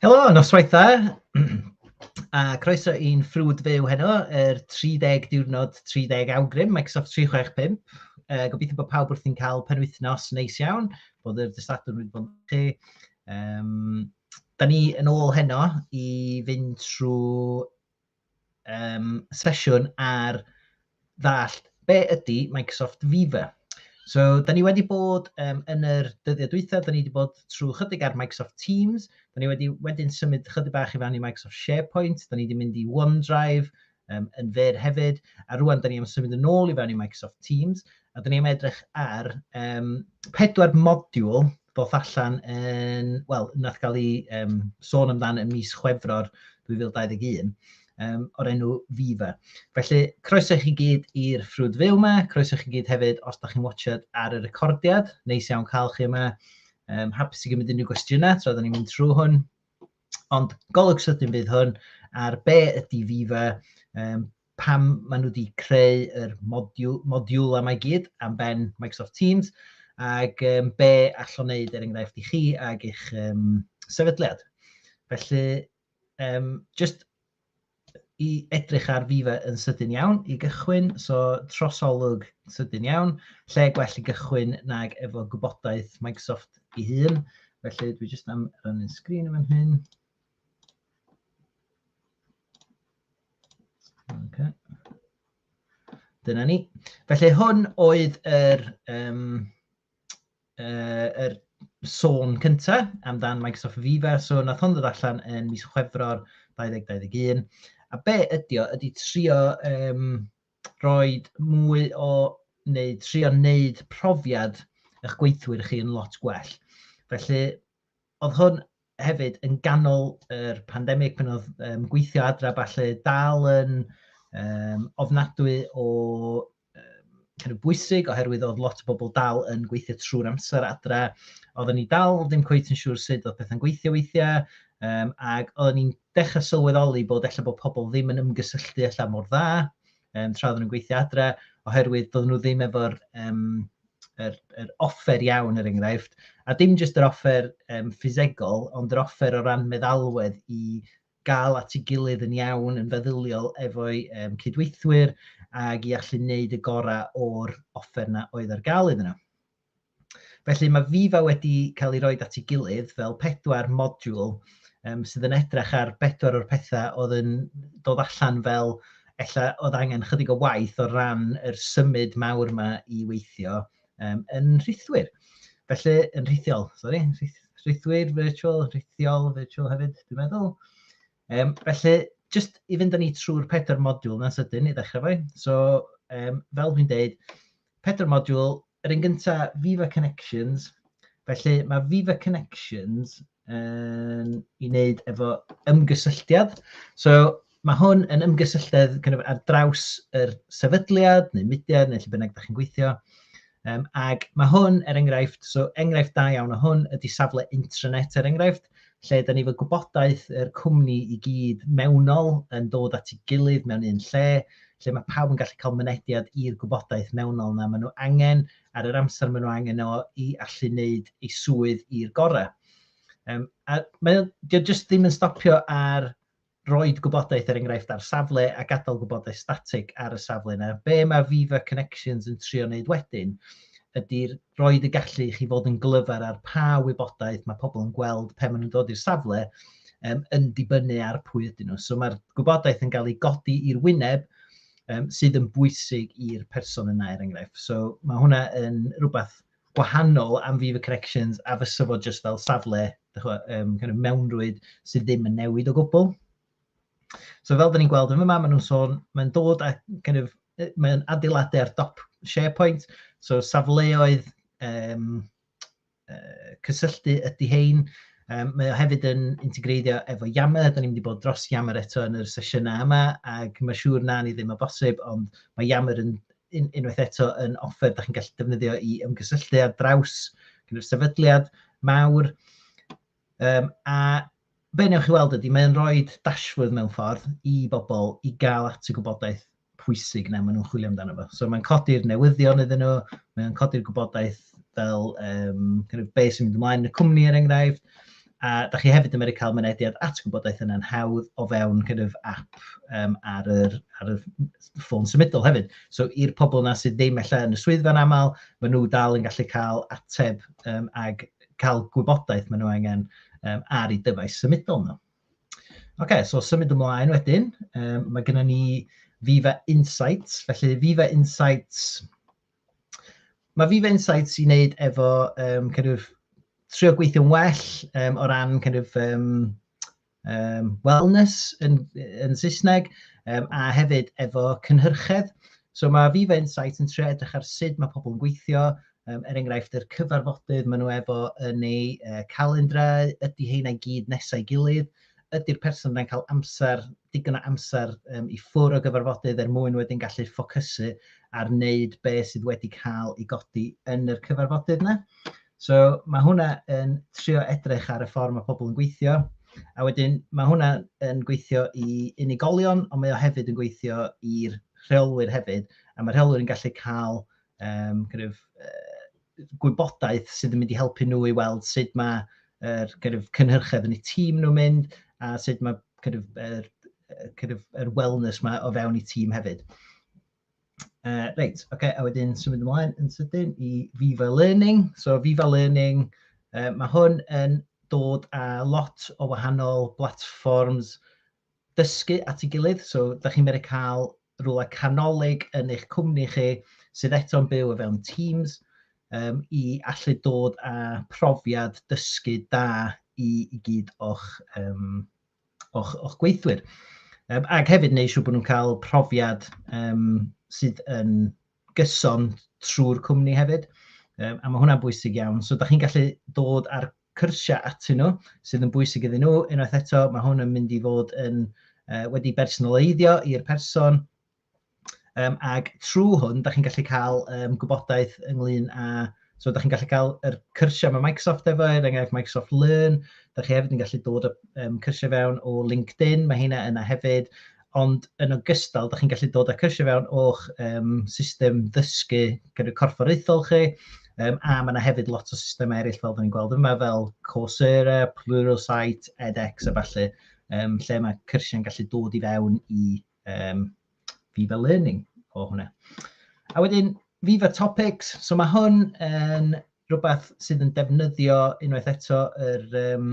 Helo, noswaith dda, a croeso i'n ffrwd fyw heno, yr 30 diwrnod 30 awgrym, Microsoft 365. Uh, gobeithio bod pawb wrthi'n cael penwythnos neis iawn, bod yr dystadwr wedi bod yn chi. Um, da ni yn ôl heno i fynd trwy um, sesiwn ar ddall be ydy Microsoft Viva. So, da ni wedi bod um, yn yr dyddiau dwythau, da ni wedi bod trwy chydig ar Microsoft Teams, da ni wedi wedyn symud chydig bach i fewn i Microsoft SharePoint, da ni wedi mynd i OneDrive um, yn fer hefyd, a rwan da ni am symud yn ôl i fewn i Microsoft Teams, A dyn ni'n edrych ar um, pedwar modiwl ddoth allan yn, wel, nath gael ei um, sôn amdan yn mis Chwefror 2021 um, o'r enw Viva. Felly, croeso i chi gyd i'r ffrwd fyw yma, croeso i chi gyd hefyd os da chi'n watchad ar y recordiad, neis iawn cael chi yma. Um, hapus i gymryd unrhyw gwestiynau tra da ni'n mynd trwy hwn. Ond golwg sydyn fydd hwn ar be ydy Viva, um, pam maen nhw wedi creu yr modiwl, modiwl am ei gyd am ben Microsoft Teams, ac um, be allwn wneud er enghraifft i chi ag eich um, sefydliad. Felly, um, just i edrych ar Viva yn sydyn iawn i gychwyn, so trosolwg sydyn iawn, lle gwell i gychwyn nag efo gwybodaeth Microsoft i hun. Felly, dwi jyst am rannu'n sgrin yn fan hyn. Okay. Dyna ni. Felly hwn oedd yr, um, uh, yr sôn cynta amdan Microsoft Viva. So nath hwn ddod allan yn mis Chwefror 2021. A be ydy o? Ydy trio um, roi mwy o, neu trio wneud profiad eich gweithwyr chi yn lot gwell. Felly, Oedd hwn hefyd yn ganol yr pandemig pan oedd um, gweithio adra falle dal yn um, ofnadwy o um, kind of bwysig oherwydd oedd lot o bobl dal yn gweithio trwy'r amser adra. Oedden ni dal ddim cweith yn siŵr sut oedd pethau'n gweithio weithiau um, ac oedden ni'n dechrau sylweddoli bod efallai bod pobl ddim yn ymgysylltu allan mor dda um, tra oedden nhw'n gweithio adra oherwydd doedden nhw ddim efo'r um, yr, yr offer iawn, er enghraifft, a dim jyst yr offer um, ffisegol, ond yr offer o ran meddalwedd i gael at ei gilydd yn iawn, yn feddyliol efo'i um, cydweithwyr, ac i allu wneud y gorau o'r offer yna oedd ar gael iddyn nhw. Felly mae Viva wedi cael ei roi at ei gilydd fel pedwar modiwl um, sydd yn edrych ar bedwar o'r pethau oedd yn dod allan fel ella oedd angen chydig o waith o ran yr symud mawr yma i weithio um, yn rhithwyr. Felly, yn rhithiol, sori, rhithwyr virtual, rhithiol virtual hefyd, dwi'n meddwl. Um, felly, just i fynd â ni trwy'r pedwar modiwl yna sydyn i ddechrau fwy. So, um, fel dwi'n deud, Pedwar modiwl, yr un gyntaf, Viva Connections. Felly mae Viva Connections yn i wneud efo ymgysylltiad. So mae hwn yn ymgysylltiad kind of, ar draws yr sefydliad neu mudiad neu lle bynnag da chi'n gweithio. Um, ac mae hwn, er enghraifft, so enghraifft da iawn o hwn ydy safle intranet, er enghraifft. lle ydy ni efo gwybodaeth yr cwmni i gyd mewnol yn dod at ei gilydd mewn un lle, lle mae pawb yn gallu cael mynediad i'r gwybodaeth mewnol yna maen nhw angen, ar yr amser maen nhw angen o i allu wneud ei swydd i'r gorau. Um, a mae, dio jyst ddim yn stopio ar roid gwybodaeth er enghraifft ar safle a gadael gwybodaeth statig ar y safle yna. Be mae Viva Connections yn trio wneud wedyn ydy roed y gallu i chi fod yn glyfar ar pa wybodaeth mae pobl yn gweld pe maen nhw'n dod i'r safle um, yn dibynnu ar pwy ydyn nhw. So mae'r gwybodaeth yn cael ei godi i'r wyneb um, sydd yn bwysig i'r person yna er enghraifft. So mae hwnna yn rhywbeth gwahanol am Viva Connections a fysa fo jyst fel safle, dach ch'mo', yym kind of mewnrwyd sydd ddim yn newid o gwbwl. So fel 'dan ni'n gweld yn fyma, ma' nhw'n sôn, mae'n dod â kind of, yy mae'n adeiladu ar dop SharePoint, so safleoedd yym yy cysylltu ydy hein. Yym mae o hefyd yn integreiddio efo Yammer, 'dan ni'n mynd i bod dros Yammer eto yn yr sesiynau yma, ac ma' siŵr 'na ni ddim o bosib, ond ma' Yammer yn un, unwaith eto yn offer da chi'n gallu defnyddio i ymgysylltu ar draws gyda'r sefydliad mawr. Um, a be newch chi weld ydy, mae'n rhoi dashfwrdd mewn ffordd i bobl i gael at y gwybodaeth pwysig na maen nhw'n chwilio amdano fo. So mae'n codi'r newyddion iddyn nhw, mae'n codi'r gwybodaeth fel um, kind of beth sy'n mynd ymlaen yn y cwmni er enghraifft, A da chi hefyd yn medru cael mynediad at gwybodaeth yna'n hawdd o fewn kind of app um, ar yr, ar yr ffôn symudol hefyd. So i'r pobl yna sydd ddim efallai yn y swyddfa'n aml, maen nhw dal yn gallu cael ateb um, ag cael gwybodaeth maen nhw angen um, ar ei dyfais symudol nhw. Oce, okay, so symud ymlaen wedyn, um, mae gennym ni Viva Insights. Felly Viva Insights Mae fi fy insights i wneud efo um, kind of, trio gweithio'n well um, o ran kind of, um, um, wellness yn, yn Saesneg um, a hefyd efo cynhyrchedd. So mae fi fy insights yn trio edrych ar sut mae pobl yn gweithio, um, er enghraifft yr cyfarfodydd maen nhw efo yn eu uh, calendrau, ydy heina gyd nesau gilydd, ydy'r person yna'n cael amser, digon o amser um, i ffwr o gyfarfodydd er mwyn wedyn gallu ffocysu ar wneud be sydd wedi cael ei godi yn yr cyfarfodydd yna. So mae hwnna yn trio edrych ar y ffordd mae pobl yn gweithio, a wedyn mae hwnna yn gweithio i unigolion, ond mae o hefyd yn gweithio i'r rheolwyr hefyd, a mae rheolwyr yn gallu cael um, kind of, uh, gwybodaeth sydd yn mynd i helpu nhw i weld sut mae yr kind of, cynhyrchedd yn eu tîm nhw'n mynd a sut mae kind of, er, kind of, er wellness mae o fewn eu tîm hefyd. Uh, reit, oce, okay, a wedyn symud ymlaen yn sydyn i Viva Learning. So Viva Learning, uh, mae hwn yn dod â lot o wahanol platforms dysgu at ei gilydd, so dach chi'n medru cael rhywle canolig yn eich cwmni chi sydd eto'n byw o fewn Teams um, i allu dod â profiad dysgu da i, i gyd o'ch, um, o'ch, o'ch gweithwyr. Um, ac hefyd neu siw bod nhw'n cael profiad um, sydd yn gyson trwy'r cwmni hefyd. Um, a mae hwnna'n bwysig iawn. So, da chi'n gallu dod ar cyrsiau atyn nhw sydd yn bwysig iddyn nhw. Unwaith eto, mae hwn yn mynd i fod yn uh, wedi bersonaleiddio i'r person, um, ac trwy hwn, da chi'n gallu cael um, gwybodaeth ynglyn â So, da chi'n gallu cael yr cyrsiau mae Microsoft efo, er enghraifft Microsoft Learn, da chi hefyd yn gallu dod y um, cyrsiau fewn o LinkedIn, mae hynna yna hefyd, ond yn ogystal, dach chi'n gallu dod â cyrsiau fewn o'ch um, system ddysgu gyda corfforaethol chi, um, a mae yna hefyd lot o systemau eraill fel dyn ni'n gweld yma, fel Coursera, Pluralsight, edX a falle, um, lle mae cyrsiau'n gallu dod i fewn i um, Viva Learning o hwnna. A wedyn, Viva Topics, so mae hwn yn rhywbeth sydd yn defnyddio unwaith eto yr, um,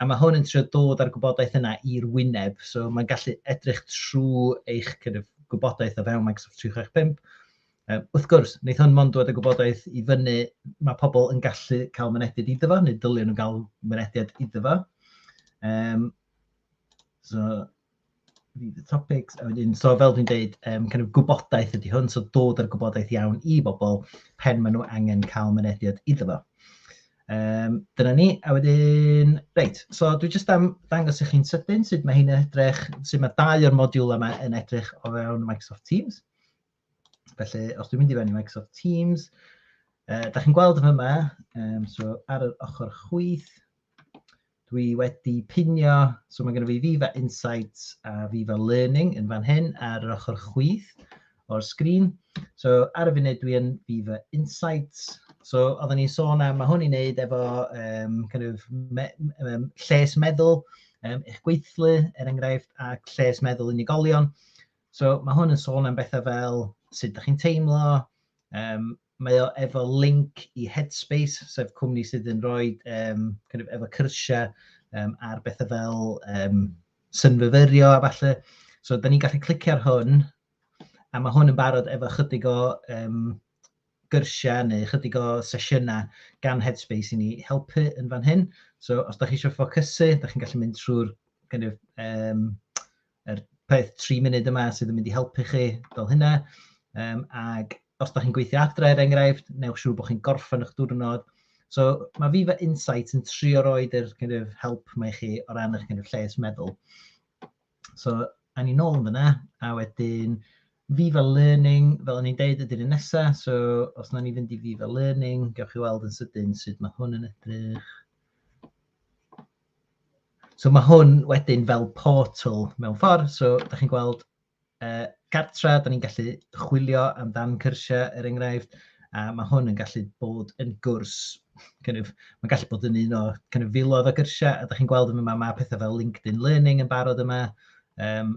A mae hwn yn trio dod â'r gwybodaeth yna i'r wyneb, so mae'n gallu edrych trwy eich kind of gwybodaeth o fewn Microsoft 365. Um, wrth gwrs, wneith hwn mond dod â gwybodaeth i fyny, mae pobl yn gallu cael mynediad iddo fo, neu dylion nhw'n cael mynediad iddo fo. Um, so, topics, a wedyn, so fel dwi'n dweud, um, kind of gwybodaeth ydy hwn, so dod â'r gwybodaeth iawn i bobl pen maen nhw angen cael mynediad iddo fo. Um, dyna ni, a wedyn, reit, so dwi jyst am ddangos i chi'n sydyn sut mae hyn yn edrych, sut mae dau o'r modiwl yma yn edrych o fewn Microsoft Teams. Felly, os dwi'n mynd i fewn i Microsoft Teams, uh, da chi'n gweld yma, um, so ar yr ochr chwyth, Dwi wedi pinio, so mae gennym fi Viva Insights a Viva Learning yn fan hyn ar yr ochr chwith o'r sgrin. So ar y funud dwi yn Viva Insights. So oedden ni'n sôn am, mae hwn i wneud efo um, kind of me, um, lles meddwl um, eich gweithlu, er enghraifft, a lles meddwl unigolion. So mae hwn yn sôn am bethau fel sut ydych chi'n teimlo, um, Mae o efo link i Headspace, sef cwmni sydd yn rhoi um, kind of, efo cyrsiau um, ar bethau fel um, synfyfyrio a falle. So, da ni'n gallu clicio ar hwn, a mae hwn yn barod efo chydig o um, gyrsiau neu chydig o sesiynau gan Headspace i ni helpu yn fan hyn. So, os da chi eisiau ffocysu, da chi'n gallu mynd trwy'r kind of, um, yr peth tri munud yma sydd yn mynd i helpu chi fel hynna. Um, ac os da chi'n gweithio adre, er enghraifft, newch siŵr bod chi'n gorffen eich diwrnod. So mae fi fe insight yn trio roed yr kind of, help mae chi o ran eich kind of, lles meddwl. So, a ni nôl yn fyna, a wedyn fi fel learning, fel o'n i'n deud, ydy'r un nesaf. So, os na ni fynd i fi fel learning, gewch chi weld yn sydyn sut mae hwn yn edrych. So mae hwn wedyn fel portal mewn ffordd, so dach chi'n gweld uh, cartra, da ni'n gallu chwilio amdan cyrsiau er enghraifft, a mae hwn yn gallu bod yn gwrs, kind of, mae'n gallu bod yn un o kind of, filodd o gyrsiau, a da chi'n gweld yma mae pethau fel LinkedIn Learning yn barod yma, um,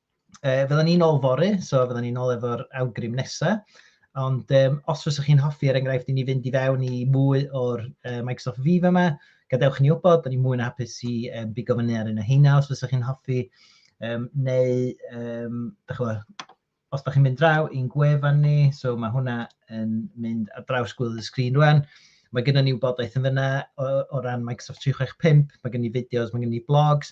E, fydden ni'n ôl fory, so fydden ni'n ôl efo'r awgrym nesaf. Ond um, os fyddwch chi'n hoffi, er enghraifft, i ni fynd i fewn i mwy o'r uh, Microsoft Viva yma, gadewch ni wybod, da ni mwy na hapus i um, bigo fyny ar un o heina os fyddwch chi'n hoffi, um, neu um, da chwa, os da chi'n mynd draw i'n gwefan ni, so mae hwnna yn mynd ar draws gwylio y sgrin rwan, mae gennym ni wybodaeth yn fyna o, o ran Microsoft 365, mae gennym ni fideos, mae gennym ni blogs,